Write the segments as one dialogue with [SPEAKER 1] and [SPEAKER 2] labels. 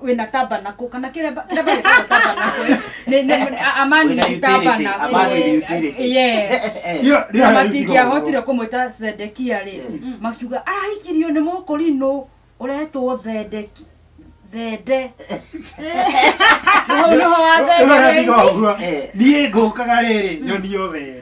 [SPEAKER 1] wina tabernacle kana kĩrĩa ba- kĩrĩa bagĩtagwo tabernacle ĩ, nĩ- nĩ- a- a man Wĩna with utility, a man tabernacle with utility. yes Hiyo- hiyo na haiwezi matingĩahotire kuwa. kũmwĩta zedekia rĩ Mm. makiuga arahikirio nĩ mũkũrinũ ũretwo thedeki thende Nĩho- nĩho wa Rĩu thende arabiga ũguo. Eh. niĩ ngũkaga
[SPEAKER 2] rĩrĩ nyoni yothe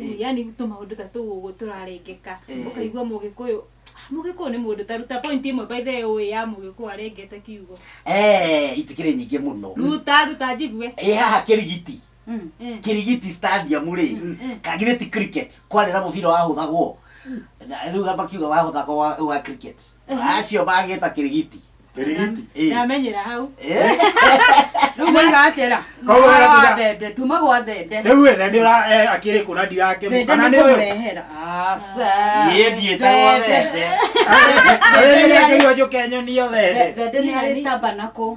[SPEAKER 3] Eh. yani tå maå ndå ta tå å gå tå rarengeka Eh. å kaigua må gä kå yå må gä kå yå nä må ndå taruta pointi ä mwe baithe å ä ya må gä kå arengete kiugo Eh, itikĩrĩ
[SPEAKER 4] nyingĩ mũno ruta ruta njigue
[SPEAKER 3] ĩ haha kĩrigiti
[SPEAKER 4] Mm. Eh. kirigiti stadium rĩ Mm. kagire ti cricket kwarĩ na mũbira wahũthagwo Na rĩu makiuga wahũthagwo wa- wa cricket acio magĩta kirigiti Tirigiti. Eh.
[SPEAKER 3] ndamenyera hau Eh.
[SPEAKER 1] rĩu moiga atĩra Koguo Mwana wa gatira- thende tuma gwa thende Rĩu we thende ũra- eh,
[SPEAKER 2] akĩrĩ kũna ndirakĩmũ thende kana nĩ nĩ we. kũmũrehera aca
[SPEAKER 4] Niĩ ndiĩtagwo
[SPEAKER 2] thende. Rĩrĩa
[SPEAKER 1] akĩrĩ
[SPEAKER 2] wanjũke nyoni yo
[SPEAKER 1] thende.
[SPEAKER 2] thende
[SPEAKER 4] nĩ arĩ
[SPEAKER 1] tamba
[SPEAKER 2] nakũ